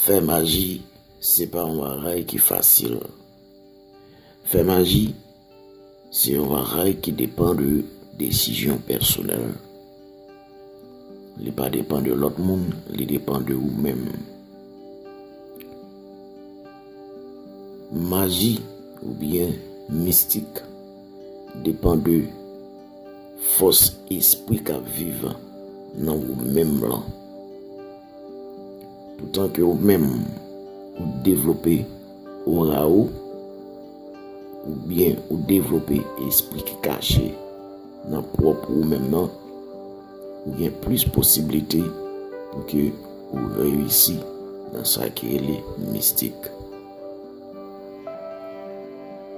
Fè maji se pa yon bagay ki fasil. Fè maji se yon bagay ki depan de desizyon pèsonèl. Li pa depan de lòt moun, li depan de ou menm. Maji ou byen mistik depan de fòs espri k ap viv nan ou menm lan. Poutan ke ou menm ou devlope ora ou, ou byen ou devlope espri ki kache nan pwòp ou menm nan, ou gen plis posibilite pou ke ou reyisi nan sa ki rele mistik.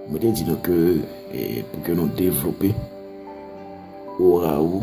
Mwen te di nou ke eh, pou ke nou devlope ora ou,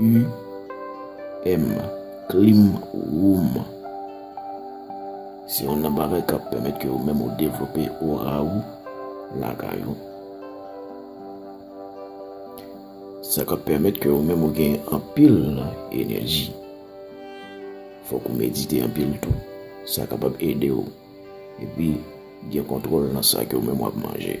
UM, Clean Room, Se yon nan bagay k ap pèmèt ke ou menm ou devlope ora ou lakay ou. Sa k ap pèmèt ke ou menm ou gen anpil enèji. Fòk ou medite anpil tou. Sa kapab ede ou epi gen kontwòl nan sa ke ou menm w ap manje.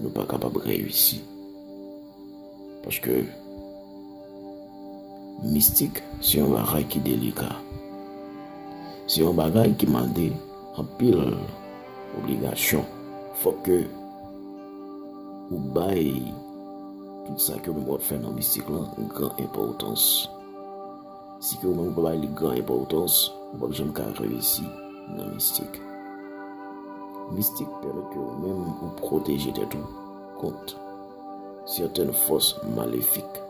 Nou pa kapab reyisi. Paske mistik se yon bagay ki delika. Se yon bagay ki mande anpil obligasyon. Fòk ke ou bay tout sa ke ou menm wap fè nan mistik lan gran enpòtans. Si ke ou menm ou pa bay li gran enpòtans, ou pap janm ka reyisi nan mistik. Mistik pèmèt ke ou menm ou pwoteje tèt ou kont sèten fòs malefik,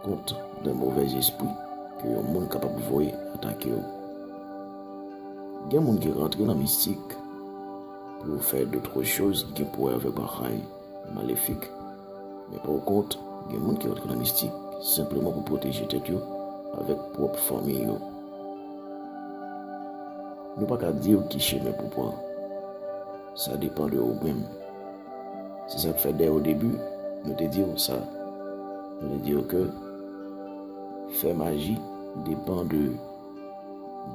kont de movè zespri ke yon moun kapab voye atake ou. Gen moun ki rantre nan mistik pou yo fè de tro choz ki gen pou wè avèk bagay. Malefik. Men pa w kont, gen moun ki antre nan mistik senpleman pou pwoteje tèt yo avèk pwòp fanmi yo. Nou pa ka di w ki chemen pou w pran. Sa depan de ou menm. Se sa k fè dèy odebi, nou te di w sa. Nou te di w ke fè maji depan de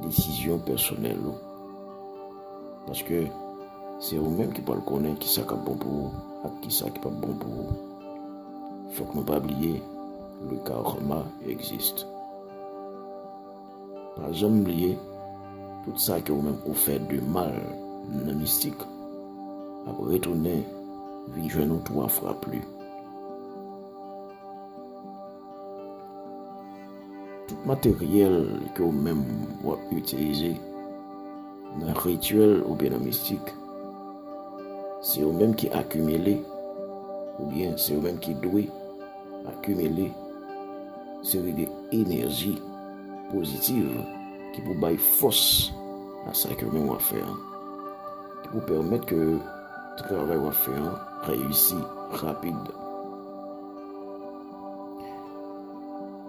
desizyon pèsonèl ou. Paske, se ou menm ki pral konnen ki sa k ap bon pou ou ak ki sa ki pap bon pou ou. Fòk nou pa bliye, le karma existe. Pa janm bliye, tout sa ke ou menm ou fè de mal nan mistik ap retounen vin jwenn ou 3 fwa pli. Tout materyèl ke ou menm ou ap itilize nan rityèl oubyen nan mistik, se ou menm ki akimile oubyen se ou menm ki dwe akimile seri de enèji pozitiv ki pou bay fòs a sa ke ou menm ou ap fè an. Ki pou pèmèt ke travay ou ap fè an reyisi rapid.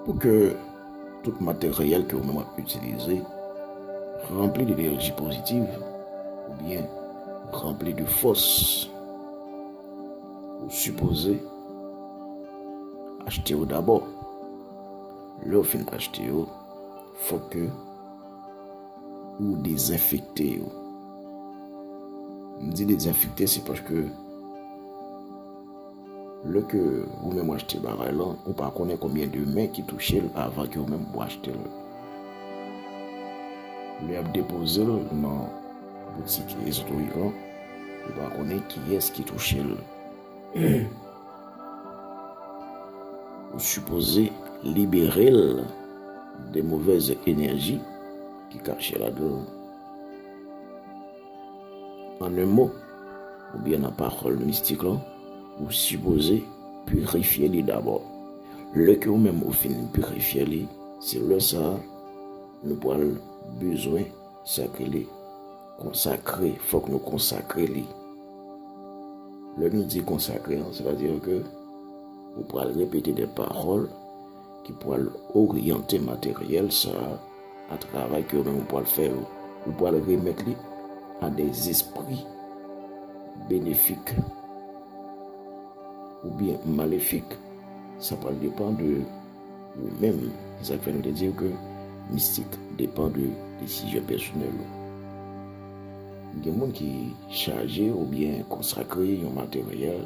Pou ke tout materyèl ke ou menm ap itilize ranpli de enerji pozitiv ou byen ranpli de fòs ou sipoze achte yo dabò. Lè ou fin achte yo, fòk ke ou dezenfekte yo. M di dezenfekte se paske Lè ke ou menm w achte bagay lan, ou pa konnen konbyen de men ki touche l avan ke ou menm ou achte l. Lè y ap depoze l nan boutik ezoterik lan, ou pa konnen kiyès ki touche l. Ou sipoze libere l de movèz enèji ki kache ladan l. An un mo, oubyen nan pawòl mistik lan, ou sipoze pirifye li dabò. Lè ke ou menm ou fin pirifye li, se lè sa a nou pral bezwen sa ki rele konsakre, fòk nou konsakre li. Lè nou di konsakre an, se ta di ke ou pral repete de pawòl ki pral oryante materyèl sa a. A travay ke ou menm ou pwal fè yo, ou pwal remèt li a de zespri benefik ou byen malefik. Sa pwal depan de ou menm. E sa k fè nou te diw ke mistik depan de desizyon pèsonèl ou. Gen moun ki chaje ou byen konsakre yon materyèl.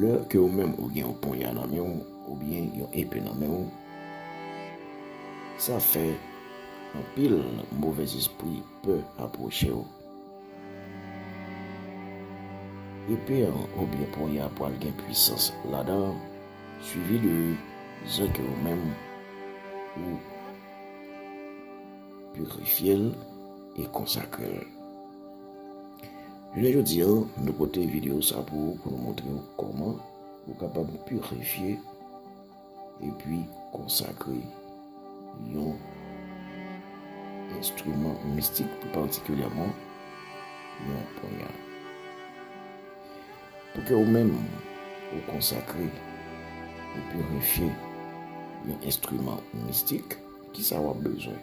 Lè ke ou menm ou gen yon ponya nan men ou, oubyen yon epe nan men ou, sa fè anpil movèzespri pè apwoche ou. Epe an oubyen ponya an pwal gen pwisans ladan an, swivi de zè ke ou menm ou pirifye l e konsakre l. Jounen jodi an, nou pote videyo sa pou ou pou nou montre ou kòman ou kapab pirifye epi konsakre yon enstriman mistik pi patikilyèman yon ponya. Pou ke ou menm ou konsakre ou pirifye yon enstriman mistik, kisa w ap bezwen?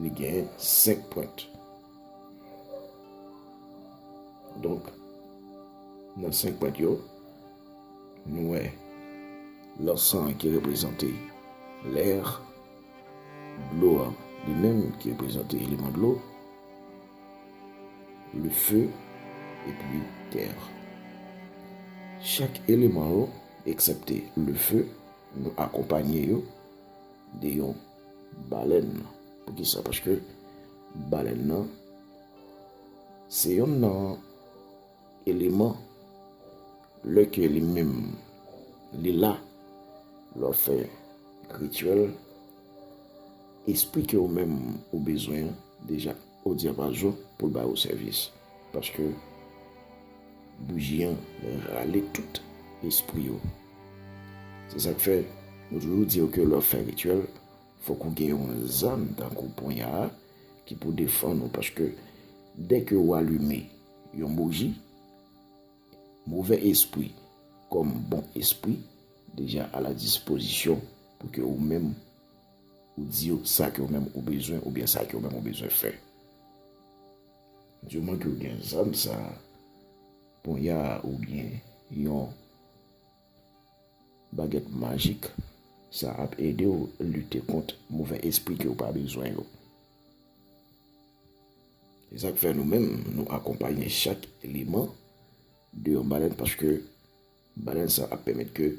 Li gen 5 pwent. Donk, nan 5 pwent yo, nou wè lansan an ki reprezante lèr, dlo an li menm ki reprezante eleman dlo, le feu, epi tèr. Chak eleman yo, eksepte le feu, nou akonpanye yo de yon. Balèn, poukisa? Paske balèn nan se yon nan eleman lè ke li menm li la lò fè rityèl esplike ou menm ou bezwen deja. Ou di apa zo pou l ba ou sèvis paske bouji an rale tout espri yo. Se sa k fè nou toujou di yo ke lè w fè rityèl fòk ou gen yon zam tankou ponya a ki pou defann ou paske dè ke ou alime yon bouji, movè espri kòm bon espri deja a la dispozisyon pou ke ou menm Ou di yo sa ke ou menm ou bezwen oubyen sa ke ou menm ou bezwen fè. Diouman ke ou gen zam sa, ponya a oubyen yon bagèt majik, sa ap ede ou lite kont move espri ke ou pa bezwen yo. Se sak fè nou menm nou akonpaye chak eleman de yon balèn paske balèn sa ap pèmèt ke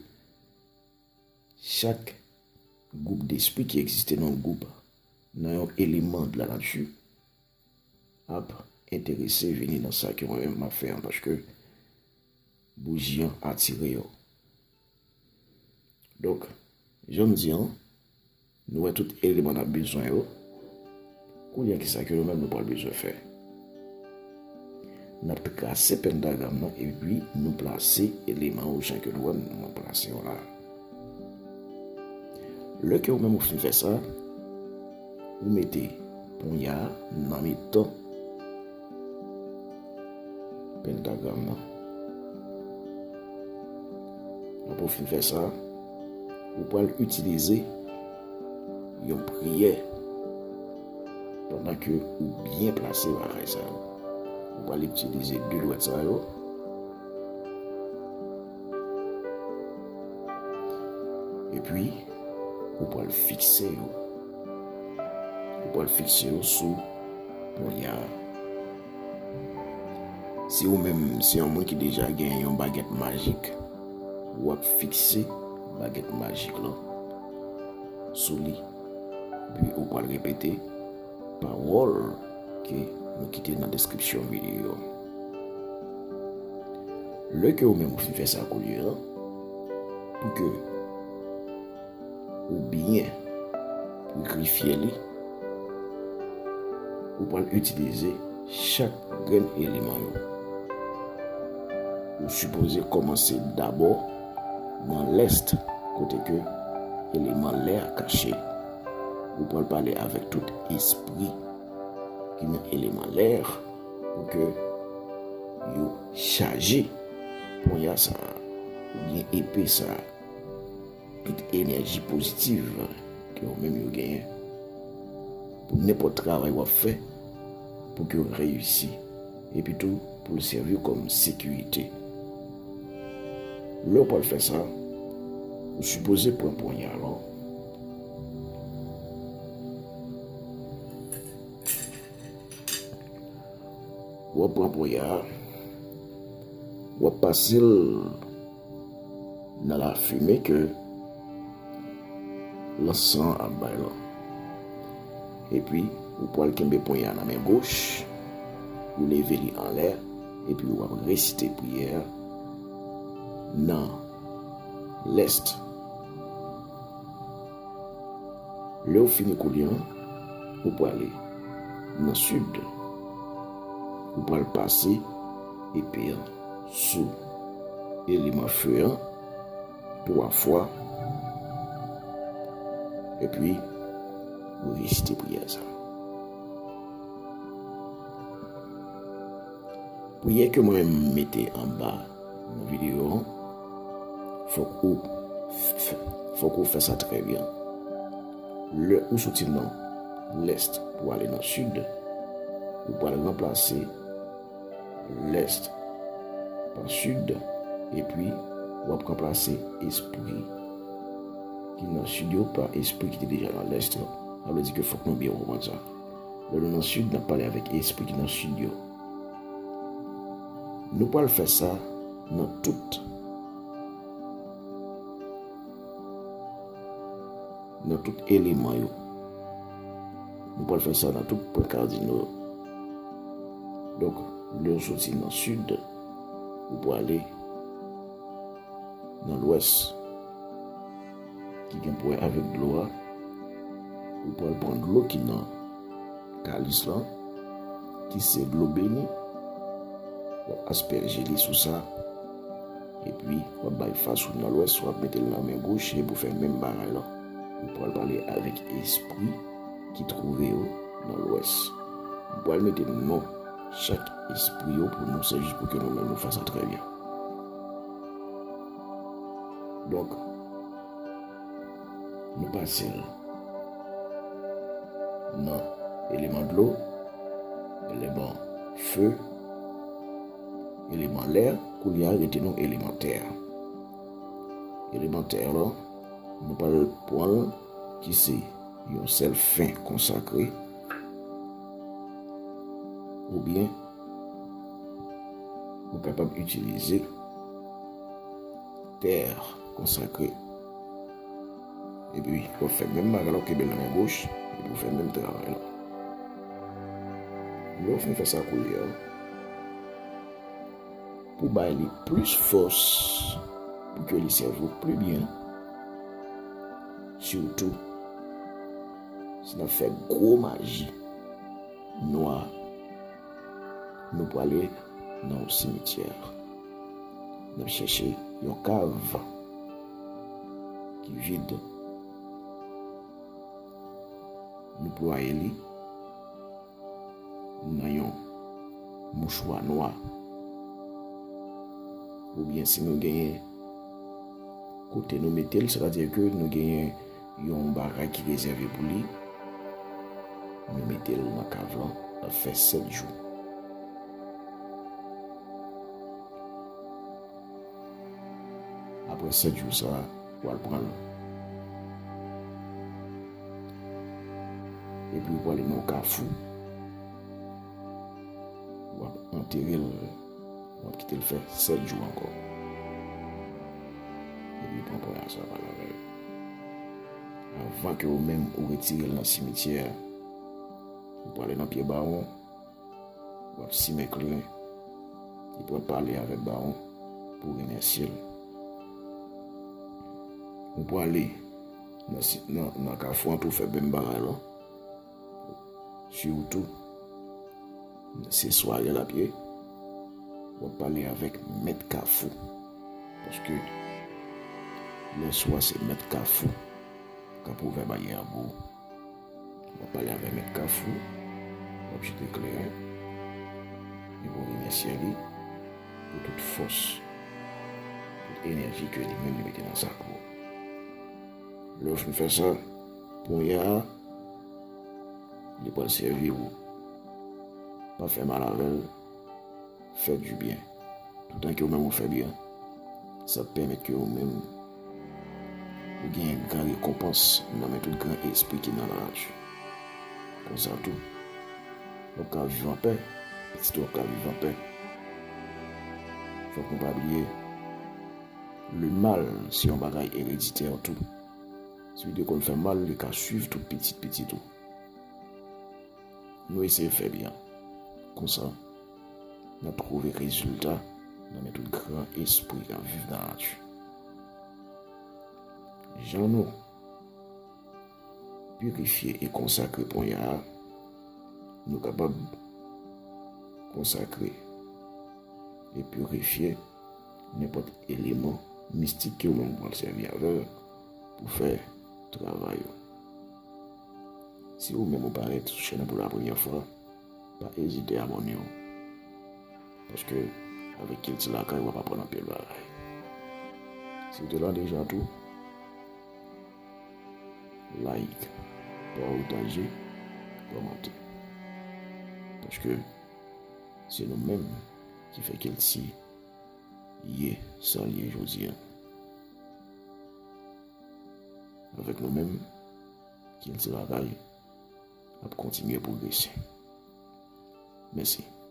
Chak gwoup despri ki egziste nan yon gwoup, nan yon eleman de la nati, ap enterese vini nan sa ke mwen menm map fè an paske bouji an atire yo. Donk, jan m di an, Nou wè tout eleman n ap bezwen yo. Kounye a, ki sa ke nou menm nou pral bezwen fè? N ap trase pentagram nan epi nou plase eleman yo jan ke nou wè m nan. Mwen plase yo la. Lè ke ou menm ou fin fè sa, ou mete ponya nan mitan. Pentagram nan. Nan pou fin fè sa, ou pral itilize yon priyè pandan ke ou byen plase lakay sa yo. Ou pral itilize de dwèt sa yo. E pi, ou pral fikse yo. Ou pral fikse yo sou Kounya si ou menm se yon moun ki deja gen yon bagèt majik, ou ap fikse bagèt majik lan sou li. Epi ou pral repete pawòl ke nou kite nan deskripsyon videyo an. Lè ke ou menm ou fin fè sa kounya, pou ke Ou byen prikrifye li. Ou pral itilize chak grenn eleman yo. Ou sipoze komanse dabò nan lèst kote ke eleman lè a kache. Ou pral pale avèk tout espri ki nan eleman lè a pou ke yo chaje ponya sa a, oubyen epe sa a. Tout enèji pozitiv ke yo menm yo genyen pou nenpòt travay wap fè pou ke yo reyisi epi tou pou l sèvi w kòm sekirite. Lè w pral fè sa, ou sipoze pran ponya lò wap pran ponya wap pase l Nan lafime ke lansan an ap bay lan. Epi, ou pwal kenbe ponyen an nan men goch, ou leve li anlè, epi ou ap resite priyè a nan lèst. Lè ou fini koulye an, ou pwale nan sid, ou pwal pase epe an. sou eleman feu an 3 fwa epi ou resite priyè sa. Priyè ke mwen mete an ba nan videyo an, fok ou fok ou fè sa trè byen. Le ou soti nan lèst pou ale nan sid, ou pral ranplase Lès pa sid, epi w ap ranplase espri ki nan sid yo pa espri ki te deja nan lès yo. Sa vle di ke fòk nou byen konprann sa. Lè nou nan sid, n ap pale avèk espri ki nan sid yo. Nou pral fè sa nan tout eleman yo. Nou pral fè sa nan tout pwen kardino yo. Donk, lè ou soti nan sid, ou prale nan lwès ki gen pou wè avèk dlo a. Ou pral pran dlo ki nan kalis lan, ki se dlo beni. W ap aspèje li sou sa. Epi, w ap bay fas ou nan lwès, w ap mete l nan men goch, epi w fè menm bagay lan. M pral pale avèk espri ki twouve yo nan lwès. M pral mete non chak espri yo pou nou se jis pou ke nou menm nou fè sa trè byen. Donk, nou pase l nan eleman dlo, eleman fe, eleman lè, koulye a rete nou eleman tè. Eleman tè lan. Nou pral pwan ki se yon sèl fen konsakre ou byen ou kapab itilize tè konsakre. Epi wap fè menm bagay la ou kenbe nan men goch epi ou fè menm travay la. Lè ou fin fè sa koulye a. pou bay li plis fòs pou ke li sèvi w pli byen, sitou si n ap fè gwo maji nwa, nou prale nan yon simityè, n ap chèche yon kav ki vid, nou ploye li. nan yon mouchwa nwa oubyen si nou genyen kote nou metel se ta di ke nou genyen yon bagay ki rezève pou li nou metel nan kav lan ap fè 7 jou apre 7 jou sa Wal pranl. Epi ou pwale nan kafou. Wap anterel. Wap kitel fè 7 jou anko. Epi ou pran pwaya sa wal avèl. Avan ke ou menm ou retirel nan simityè. Ou pwale nan pye bawon. Wap simen kleren. Li pral pale avek baron pou remèsye l. Ou prale nan kafou an pou fè menm bagay lan. Sitou se sware l ap ye. Wap pale avek mèt kafou. Paske lè swa se mèt kafou kap ouvè banyè an pou ou. Wap pale avè mèt kafou wap jete klere li pou remèsye li pou tout fòs tout enèji ke li menm li mete nan sak ou lèw fin fè sa ponya li pral sèvi ou pa fè mal avèl fè du byen toutan ke ou menm ou fè byen sa pèmèt ke ou menm Gen gran rekonpans nan men tout gran espri ki nan laj. Konsa tou, w ap ka viv anpè, pitit ou ap ka viv anpè. Fòk nou pa bliye, lemal se yon bagay ereditè tou. Si ou te konn fè mal, li ka suiv tout pitit pitit ou. Nou eseye fè byen, konsa. Nan trouve rezilta nan men tout gran espri k ap viv nan nati. Jan nou pirifye e konsakre ponya a, nou kapab konsakre e pirifye nenpòt eleman mistik ke ou menm ou pral sèvi avè l pou fè travay ou. Si ou menm ou parèt sou chèn nan pou lapremyè fwa, Pa ezite abone w. Paske avek kilti lakay wap aprann anpil bagay. Si w te la deja tou like, partage, komante. Paske se nou menm ki fè kilti ye sa l ye jodi an. Avek nou menm kilti lakay. ap kontinye pwogrese. Mèsi.